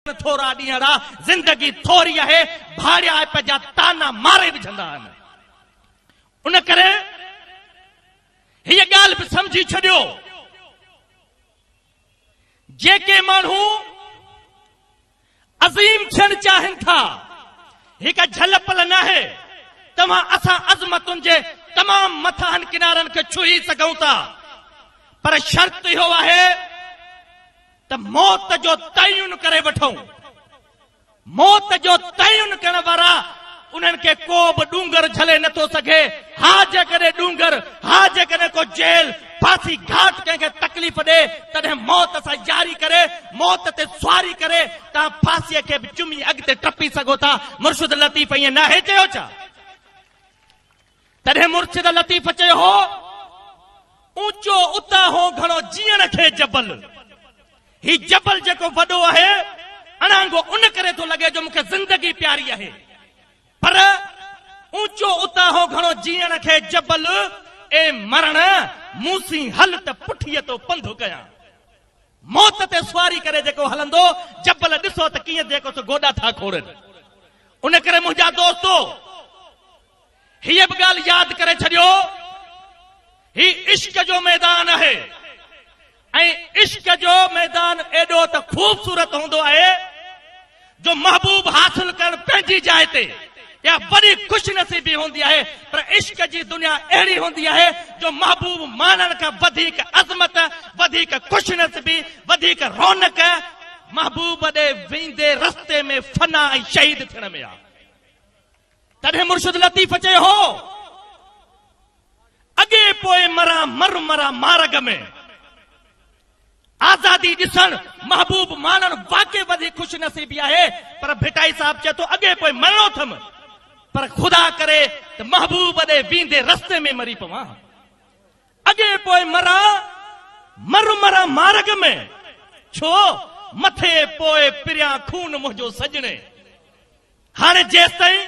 ڪن ٿورا ڏينهن را، زندگي ٿوري آهي، ڀاڙيائپ جا طعنا ماري وجهندا آهن. ان ڪري هيء ڳالهه به سمجهي ڇڏيو، جيڪي ماڻهو عظيم ٿيڻ چاهين ٿا، هي ڪا جهل پل ناهي، توهان اسان عظمتن جي تمام مٿاهن ڪنارن کي ڇهي سگهون ٿا، پر شرط اهو آهي، ته موت جو تعين ڪري وٺون. موت جو تعين ڪرڻ وارا انهن کي ڪو به ڏونگر جهلي نه ٿو سگهي. ها جيڪڏهن ڏونگر، ها جيڪڏهن ڪو جيل، ڦاسي گهاٽ ڪنهن کي تڪليف ڏئي تڏهن موت سان ياري ڪري، موت تي سواري ڪري، توهان ڦاسيء کي به چمي اڳتي ٽپي سگهو ٿا. مرشد لطيف ائين ناهي چيو ڇا؟ تڏهن مرشد لطيف چيو هو، اوچو اتاهو گهڻو جيئڻ کي جبل. هي جبل جيڪو وڏو آهي، اڻانگو ان ڪري ٿو لڳي جو مون کي زندگي پياري آهي. پر اوچو اتاهو گهڻو جيئڻ کي جبل، اي مرڻ! مون سين هل ته پٺيء تو پنڌ ڪيان. موت تي سواري ڪري جيڪو هلندو، جبل ڏسو ته ڪيئن جيڪو سو گوڏا ٿا کوڙين. ان ڪري منهنجا دوستو! هيء به ڳالهه ياد ڪري ڇڏيو، هي عشق جو ميدان آهي ۽ عشق جو ميدان ايڏو ته خوبصورت هوندو آهي جو محبوب حاصل ڪرڻ پنهنجي جاء تي اها وڏي خوش نصيبي هوندي آهي پر عشق جي دنيا اهڙي هوندي آهي جو محبوب ماڻڻ کان وڌيڪ عظمت، وڌيڪ خوش نصيبي، وڌيڪ رونق محبوب ڏي ويندي رستي ۾ فنا ۽ شهيد ٿيڻ ۾ آهي. تڏهن مرشد لطيف چيو هو، اڳي پوء مران مر مران مارڳ ۾. آزادي ڏسڻ، محبوب ماڻڻ واقعي وڏي خوش نصيبي آهي پر ڀٽائي صاحب چئي ٿو اڳي پوء مرڻو اٿم پر خدا ڪري ته محبوب ڏي ويندي رستي ۾ مري پوان ها. اڳي پوء مران مر مران مارڳ ۾. ڇو؟ مٿي پوء پريان خون منهنجو سڄڻي. هاڻي جيستائين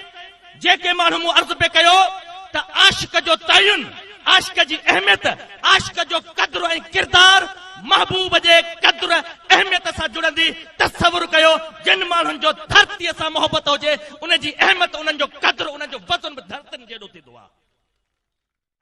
جيڪي ماڻهو مون عرض پئي ڪيو ته عاشق جو تعين، عاشق جي اهميت، عاشق جو قدر ۽ ڪردار محبوب جي قدر اهميت سان جڙندي، تصور ڪيو جن ماڻهن جو ڌرتيء سان محبت هجي، انهن جي اهميت، انهن جو قدر، انهن جو وزن به ڌرتين جيڏو ٿيندو آهي.